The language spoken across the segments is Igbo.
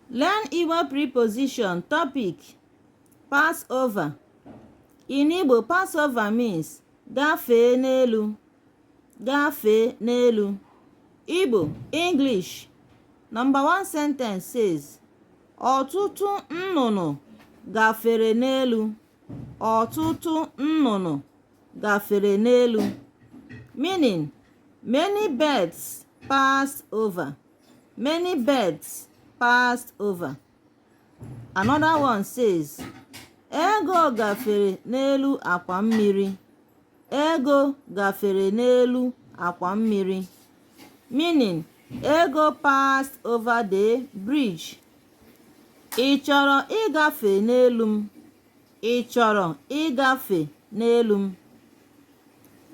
Learn Igbo preposition topic pass over. In Igbo, pass over means gafee n'elu gafee n'elu. Igbo English Number one sentence says ọtụtụ nnụnụ gafere n'elu. ọtụtụ nnụnụ gafere n'elu meaning many birds passed over many birds passed over another one says Ego gafere n'elu akwa mmiri Ego gafere n'elu akwa mmiri. Meaning, Ego passed over the bridge. Ị chọrọ ịgafe n'elu m? Ị chọrọ ịgafe n'elu m?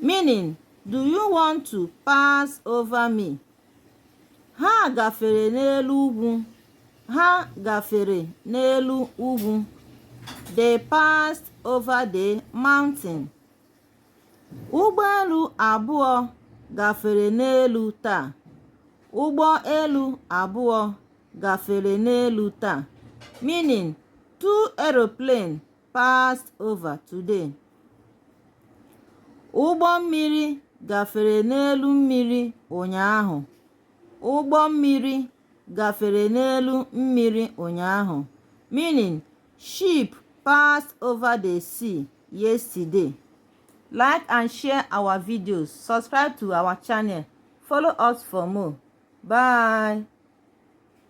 Meaning, do you want to pass over me? Ha gafere n'elu ugwu. Ha gafere n'elu ugwu. They passed over the mountain. Ụgbọ elu abụọ gafere n'elu taa. Ụgbọ elu abụọ gafere n'elu taa. Meaning, two aeroplane passed over today. Ụgbọ mmiri gafere n'elu mmiri ụnyaahụ. Ụgbọ mmiri gafere n'elu mmiri ụnyaahụ, meaning ship passed over the sea yesterday. Like and share our videos. Subscribe to our channel. Follow us for more. Bye.